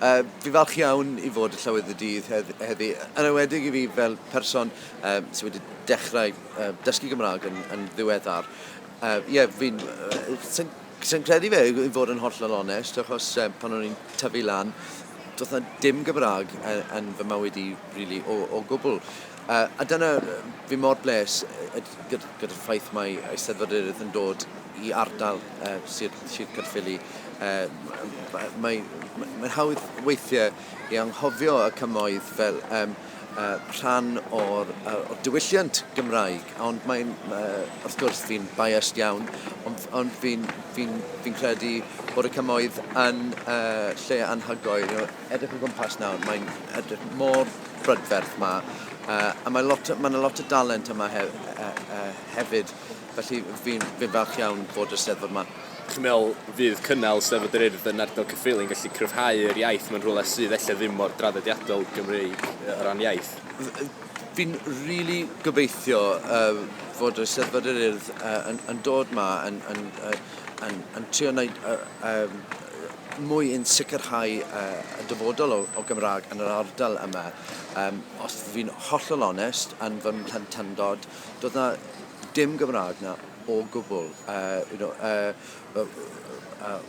Uh, fi falch iawn i fod y Llywydd y Dydd heddi, yn ewedig i fi fel person uh, sydd wedi dechrau uh, dysgu Gymraeg yn, yn ddiweddar. Ie, uh, yeah, fi'n... Uh, sy'n sy credu fe, i fod yn hollol onest, achos uh, pan o'n i'n tyfu lan, doedd na dim Gymraeg yn, yn fy mywyd i, really, o, o gwbl. A, a dyna, fi mor bles gyda'r ffaith mae Eisteddfod Erydd yn dod i ardal uh, Sir, Sir Caerffili. Uh, Mae'n mae, mae hawdd weithiau i anghofio y cymoedd fel um, uh, rhan o'r, uh, o'r diwylliant Gymraeg, ond mae'n, uh, wrth gwrs, fi'n biased iawn, ond, ond fi'n fi fi credu bod y cymoedd yn uh, lle anhygoel. Edrych o gwmpas nawr, mae'n edrych mor brydferth yma. Uh, a mae lot, mae yna lot o dalent yma he, uh, uh, hefyd, felly fi'n fi falch iawn bod y steddfod yma. Chi'n meddwl fydd cynnal Steddfod yr Urdd yn ardal Cyffili'n gallu cryfhau yr iaith mewn rhywle sydd efallai ddim mor draddodiadol Gymreig o ran iaith? fi'n rili really gobeithio uh, fod y Steddfod yr Urdd uh, yn, yn dod ma yn, yn, uh, yn, yn trio wneud uh, um, mwy yn sicrhau uh, y dyfodol o, o Gymraeg yn yr ardal yma. Um, os fi'n hollol onest, yn fy mhlentandod, doedd na dim Gymraeg na o gwbl. Uh, you know, uh, uh, uh,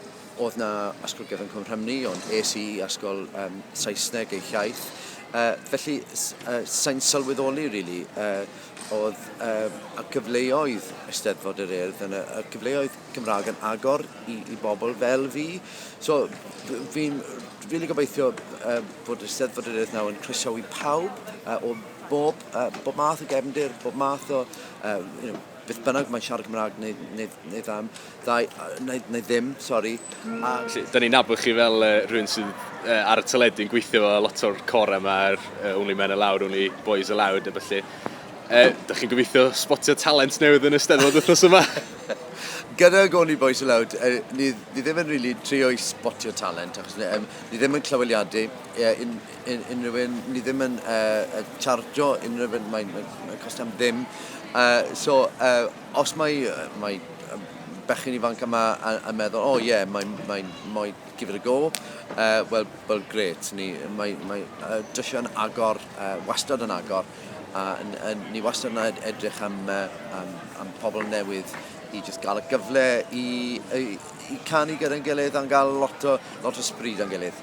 oedd na Ysgol Gyfyn Cwm Rhymni, ond es i Ysgol um, Saesneg ei hiaith. Uh, felly, uh, sa'n sylweddoli, really, uh, Oedd y cyfleoedd Eisteddfod yr Urdd yn y cyfleoedd Cymraeg yn agor i bobl fel fi. So, fi'n rili gobeithio bod Eisteddfod yr Urdd nawr yn croesawu pawb o bob math o gefndir, bob math o beth bynnag mae'n siarad Cymraeg neu ddim. Da, neu, neu ddim, sori. Mm. A... Da ni'n nabod chi fel uh, rhywun sydd uh, ar y teledu yn gweithio fo lot o'r corau yma, er, uh, Only Men Allowed, Only Boys Allowed, a felly. Uh, da chi'n gobeithio spotio talent newydd yn y steddfod wythnos yma? gyda Goni Boys Aloud, uh, ni, ni ddim yn really trio i spotio talent, achos ni, um, ni ddim yn clyweliadu uh, un, un, unrhyw un, ni ddim yn uh, chargio unrhyw un, mae'n mae, mae costau am ddim. Uh, so, uh, Os mae mae yym bechgyn ifanc yma a a meddwl oh yeah mae mae moe- give it a go yy wel wel grêt ni mae mae yy dysio yn agor yy wastad yn agor a n- yy ni wastad yn ed- edrych am yy am am pobl newydd i jyst ga'l y gyfle i yy i canu gyda'n gilydd a'n ga'l lot o lot o sbri 'da'n gilydd.